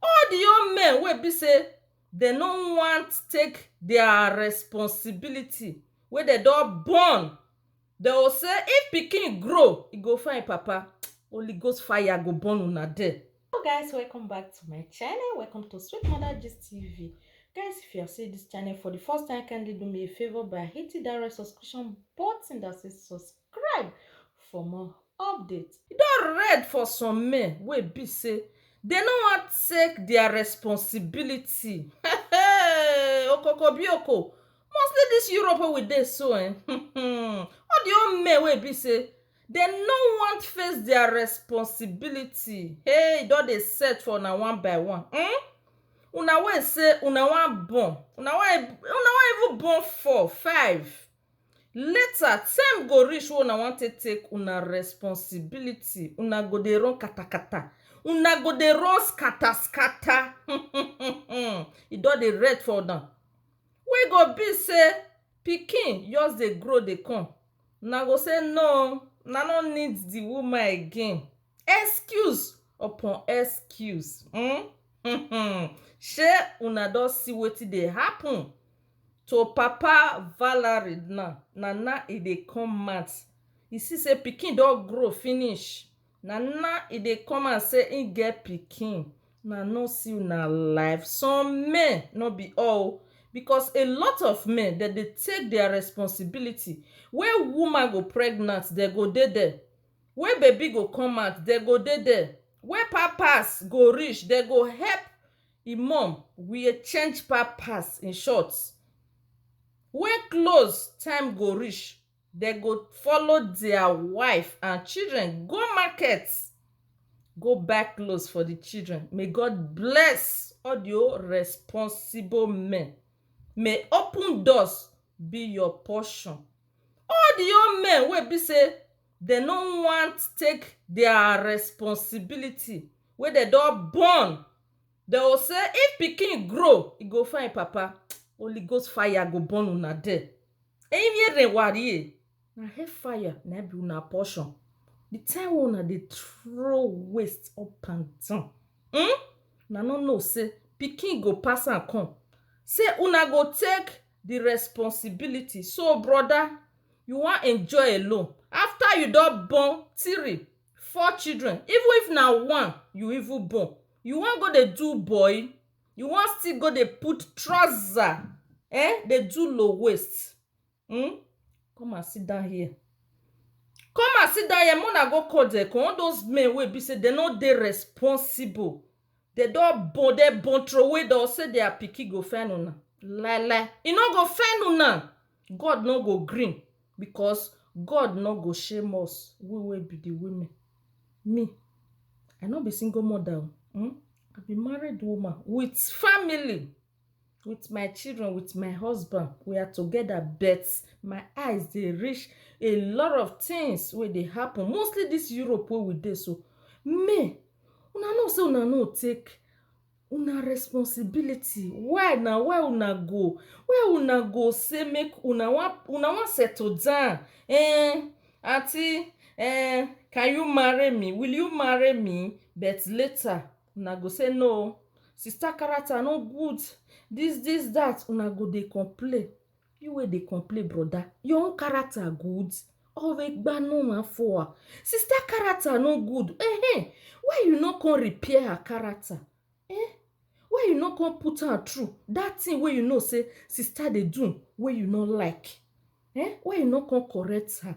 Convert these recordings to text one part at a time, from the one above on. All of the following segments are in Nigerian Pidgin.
All di young men wey be say dem no want take dia responsibility wey dem don born dem go say if pikin grow e go find papa holy ghost fire go burn una there. Hello guys welcome back to my channel welcome to sweet mother gist tv guys if you are seeing this channel for the first time kindly do me a favor by hitting that red subscription button that says subscribe subscribe for more update. E don red for some men wey e be sey dem no wan take their responsibility um okokobioko mostly this Europe wey we dey so um all the whole men wey e be sey dem no wan face their responsibility hey e don dey set for una one by one um una wey e sey una wan born una wan even born four, five Later time go reach wey una wan take take una responsibility una go dey run katakata una go dey run scatter scatter um e don dey red for una wey go be say pikin just dey grow dey come una go say no una no need the woman again excuse upon excuse um shey una don see wetin dey happen To papa Valerie na na na e dey come out e see say pikin don grow finish na na e dey come out say him get pikin una no see una life some men no be all oo because a lot of men dem dey take their responsibility wey woman go pregnant dem go dey there wey baby go come out dem go dey there wey pampers go reach dem go help Im mom were change pa pass in short When close time go reach dem go follow their wife and children go market go buy clothes for the children may God bless all the whole responsible men may open doors be your portion all the whole men wey be say Dem no want take their responsibility wey dem don born dem go say if pikin grow e go find papa holy ghost fire go burn una there eyiminyerewarie na hell fire na him be una portion the time wey una dey throw waste up and down um una no know say pikin go pass am come say una go take the responsibility so brother you wan enjoy alone after you don born three four children even if na one you even born you wan go dey do boy you wan still go dey put trouser eh dey do low waist hmn come and sit down here come and sit down here make una go call dem come all those men wey be say dem no dey responsible Dey don born dem born throway dem say their pikin go fail una lai lai e no go fail una God no go gree because God no go shame us we wey be the women me I no be single mother o I be married woman with family with my children, with my husband, we are together, but my eyes dey reach a lot of things wey dey happen, mostly this Europe wey we dey so. Me, una know say una no take una responsibility. Why na? Why una go why una go say make una wan una wan settle down um aunty um can you marry me? Will you marry me? But later una go say no sister character no good this this that una go dey complain you wey dey complain broda your own character good always gbanu ma for sister character no good eh why you no come repair her character eh why you no come put am through that thing wey you know say sister dey do wey you no like eh why you no come correct her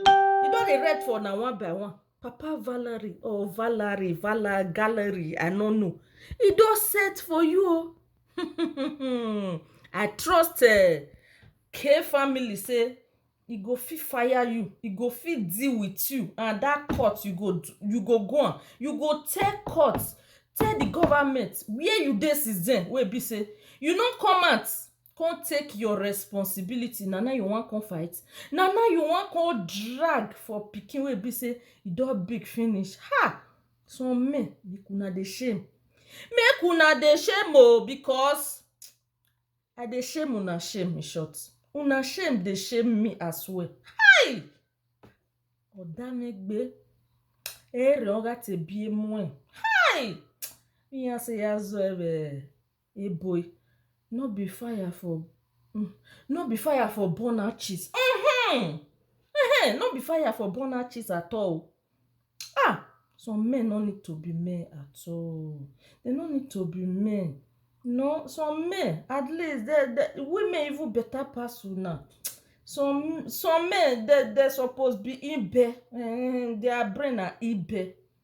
You don dey write for na one by one. Papa Valerie or Valerie, Vala Gallery, I no know. E don set for you o. Oh. I trust uh, K family say e go fit fire you, e go fit deal with you and that court you go you go go am. You go tell court, tell the government where you dey since then wey e be say you no come out Come take your responsibility na now you wan come fight na now you wan come drag for pikin wey e be say e don big finish um some men make una dey shame make una dey shame oo because I dey shame una shame in short una shame dey shame me as well hi odamegbe eriogatebiemoe hi iyaseyazoebe. Eboy, no be fire for um no be fire for burn hatches um um no be fire for burn hatches at all um some men no need to be men at all dey no need to be men nor some men at least dem dem women even better pass una some some men dem dem suppose be ibe um their brain na ibe.